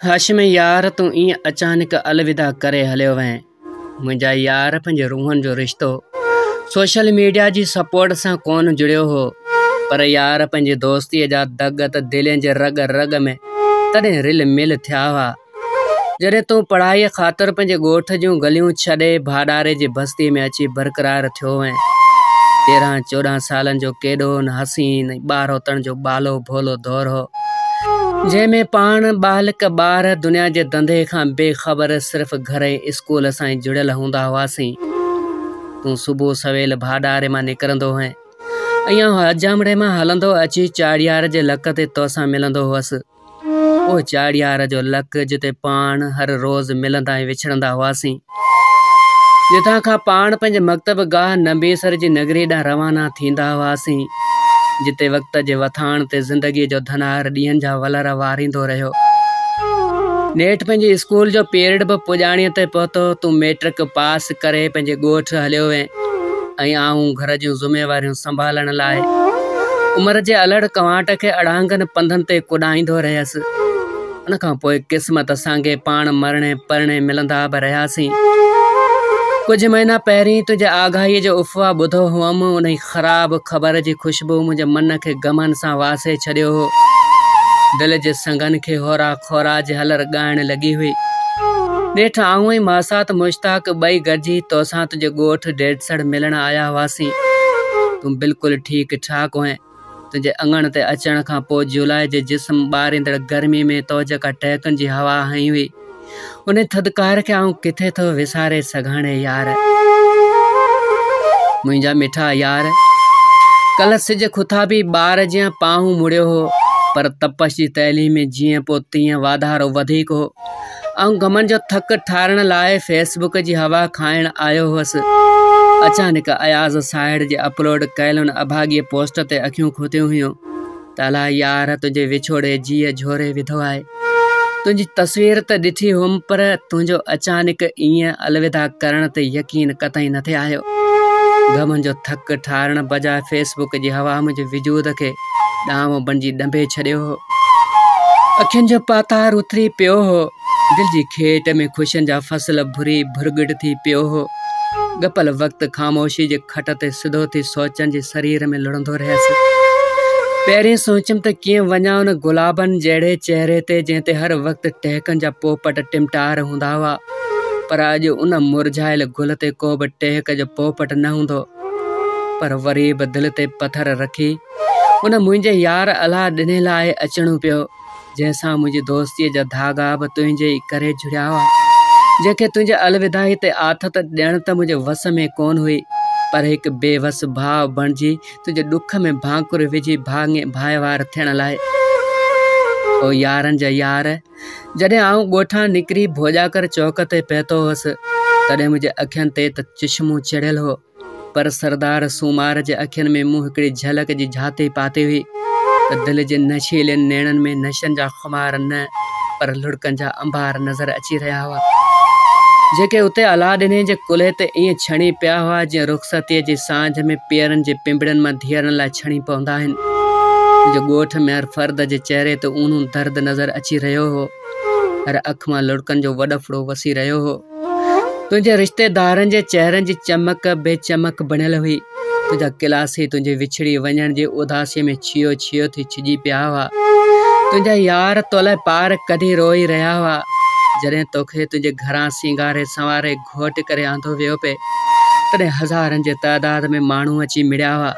هاشم يار تون ائين اچانڪ الوداع ڪري هليو وئين منهنجا يار پنهنجي روحن جو رشتو سوشل ميڊيا جي سپورٽ سان ڪونه جڙيو هو پر يار پنهنجي دوستي جا دڳ ته دلين جي رڳ رڳ ۾ تڏهن رل مل ٿيا هئا جڏهن تون پڙهائيء خاطر پنهنجي ڳوٺ جون گليون ڇڏي ڀاڏاري جي بستيء ۾ اچي برقرار ٿيو هئين. تيرهن چوڏهن سالن جو ڪيڏو نه حسين ۽ ٻارهوتڻ جو ٻالهو ڀولو دور هو، جنهن ۾ پاڻ ٻالهڪ ٻار دنيا جي ڌنڌي کان بي خبر صرف گهر ۽ اسڪول سان ئي جڙيل هوندا هئاسين. تون صبح سويل ڀاڏاري مان نڪرندو هئين ۽ آئون حجامڙي مان هلندو اچي چاڙهيار جي لڪ تي توسان ملندو هئس. او چاڙهيار جو لڪ جتي پاڻ هر روز ملندا ۽ وڇڙندا هئاسين. جتان کان پاڻ پنهنجي مڪتب گاهه نمبيسر جي نگريء ڏانهن روانا ٿيندا هئاسين. جتي وقت جي وٿاڻ تي زندگيء جو ڌنار ڏينهن جا ولر واريندو رهيو. نيٺ پنهنجي اسڪول جو پيرڊ به پڄاڻيء تي پهتو. تون ميٽرڪ پاس ڪري پنهنجي ڳوٺ هليو وئين. ۽ آئون گهر جون ذميواريون سنڀالڻ لاء عمر جي الهڙ ڪنواٽ کي اڙانگن پنڌن تي ڪڏائيندو رهيس. ان کان پوء قسمت سانگي پاڻ مرڻي پرڻي ملندا به رهياسين. ڪجهه مهينا پهرين تنهنجي آگاهيء جو افواهه ٻڌو هئم، انهيء خراب خبر جي خوشبوء منهنجي من کي غمن سان واسي ڇڏيو هو. دل جي سنگن کي هورا خوراج هلر ڳائڻ لڳي هئي. نيٺ آئون ۽ ماسات مشتاق ٻئي گڏجي توسان تنهنجي ڳوٺ ڊيڏسڙ ملڻ آيا هئاسين. تون بلڪل ٺيڪ ٺاڪ هئين. تنهنجي اڱڻ تي اچڻ کان پوء جولائي جي جسم ٻاريندڙ گرمي ۾ توجيڪا ٽهڪن جي هوا هنئي هئي، ان ٿڌڪار کي آئون ڪٿي ٿو وساري سگهان يار منهنجا مٺا يار ڪلهه سج کٿابي ٻار جيان پاهون مڙيو هو پر تپش جي تحليم ۾ جيئن پوء تيئن واڌارو وڌيڪ هو آئون غمن جو ٿڪ ٺارڻ لاء فيسبوڪ جي هوا کائڻ آيو هوس اچانڪ اياز ساهڙ جي اپلوڊ ڪيل ان اڀاڳي پوسٽ تي اکيون کتيون هيون ته الا يار تنهنجي وڇوڙي جيء جهوري وڌو آهي. تنهنجي تصوير ته ڏٺي هئم پر تنهنجو اچانڪ ائين الوداع ڪرڻ تي يقين قطعي نه ٿي آيو. غمن جو ٿڪ ٺارڻ بجاء فيس بڪ جي هوا منهنجي وجود کي ڏانو بڻجي ڏنڀي ڇڏيو هو. اکين جو پاتار اٿري پيو هو. دل جي کيٽ ۾ خوشين جا فصل ڀري ڀرڳٽ ٿي پيو هو. ڳپل وقت خاموشيء جي کٽ تي سڌو ٿي سوچن جي سرير ۾ لڙهندو رهيس. پهرين سوچيم ته ڪيئن وڃان ان گلابن جهڙي چهري تي، جنهن تي هر وقت ٽهڪن جا پوپٽ ٽمٽار هوندا هئا، پر اڄ ان مرجهايل گل تي ڪو به ٽهڪ جو پوپٽ نه هوندو. پر وري به دل تي پٿر رکي، ان منهنجي يار الهه ڏني لاء اچڻو پيو. جنهن سان منهنجي دوستيء جا ڌاڳا به تنهنجي ئي ڪري جڙيا هئا، جنهن کي تنهنجي الوداعي تي آٿت ڏيڻ ته منهنجي وس ۾ ڪونه هئي، پر هڪ بي وس ڀاء بڻجي تنهنجي ڏک ۾ ڀانڪر وجهي ڀاڱي ڀائيوار ٿيڻ لاء. او يارن جا يار! جڏهن آئون ڳوٺان نڪري ڀوڄاڪر چوڪ تي پهتو هوس، تڏهن منهنجي اکين تي ته چشمون چڙهيل هو، پر سردار سومار جي اکين ۾ مون هڪڙي جهلڪ جي جهاتي پاتي هئي ته دل جي نشيلين نيڻن ۾ نشن جا خمار نه پر لڙڪن جا انبار نظر اچي رهيا هئا، جيڪي اتي الا ڏني جي ڪلهي تي ائين ڇڻي پيا هئا جيئن رخصتيء جي سانجهه ۾ پيرن جي پنبڙين مان ڌيئرن لاء ڇڻي پوندا آهن. منهنجي ڳوٺ ۾ هر فرد جي چهري تي اونهون درد نظر اچي رهيو هو. هر اک مان لڙڪن جو وڏڦڙو وسي رهيو هو. تنهنجي رشتيدارن جي چهرن جي چمڪ بي چمڪ بڻيل هئي. تنهنجا ڪلاسي تنهنجي وڇڙي وڃڻ جي اداسيء ۾ ڇيو ڇيو ٿي ڇڄي پيا هئا. تنهنجا يار تو لاء پار ڪڍي روئي رهيا هئا. جڏهن توکي تنهنجي گهران سينگاري سنواري گهوٽ ڪري آندو ويو پئي، تڏهن هزارن جي تعداد ۾ ماڻهو اچي مڙيا هئا.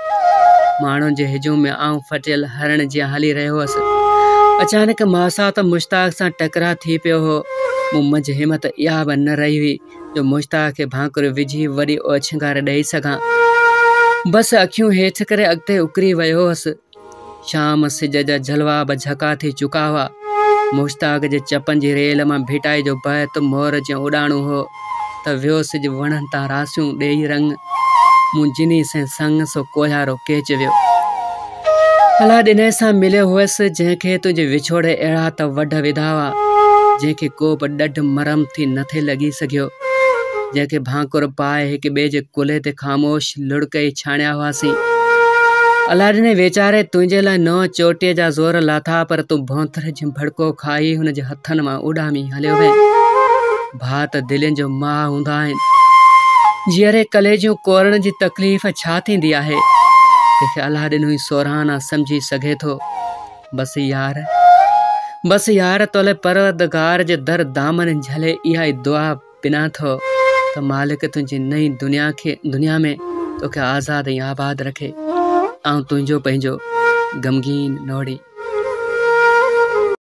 ماڻهن جي هجوم ۾ آئون ڦٽيل هرڻ جيان هلي رهيو هوس. اچانڪ ماسات مشتاق سان ٽڪراء ٿي پيو هو. مون منجهه همت اها به نه رهي هئي جو مشتاق کي ڀانڪڙيون وجهي وري اوڇنگار ڏئي سگهان. بس اکيون هيٺ ڪري اڳتي اڪري ويو هوس. شام سج جا جلوا به جهڪا ٿي چڪا هئا. مشتاق جي چپن جي ريل مان ڀٽائي جو بهت مور جيان اڏاڻو هو. ته ويو سج وڻن تان راسيون ڏيئي رنگ، مون جني سين سڱ سو ڪوهيارو ڪيچ ويو. الا ڏنئي سان مليو هئس، جنهن کي تنهنجي وڇوڙي اهڙا ته وڍ وڌا هئا، جنهن کي ڪو به ڏڍ مرهم ٿي نه ٿي لڳي سگهيو، جنهن کي ڀانڪر پائي هڪ ٻئي جي ڪلهي تي خاموش لڙڪ ئي ڇاڻيا هئاسين. الا ڏنئي ويچاري تنهنجي لاء نوح چوٽيء جا زور لاٿا، پر تون ڀونٿر جيان ڀڙڪو کائي هن جي هٿن مان اڏامي هليو وئين. ڀاء ته دلين جو ماء هوندا آهن. جيئري ڪليجون ڪورڻ جي تڪليف ڇا ٿيندي آهي. تنهنکي الله ڏنو ئي سورهانا سمجهي سگهي ٿو. بس يار. بس يار تولاء پروردگار جي در دامن جهلي اها ئي دعا پنان ٿو ته مالڪ تنهنجي نئين دنيا ۾ توکي آزاد ۽ آباد رکي. آئون تنهنجو پنهنجو غمگين نوڙي.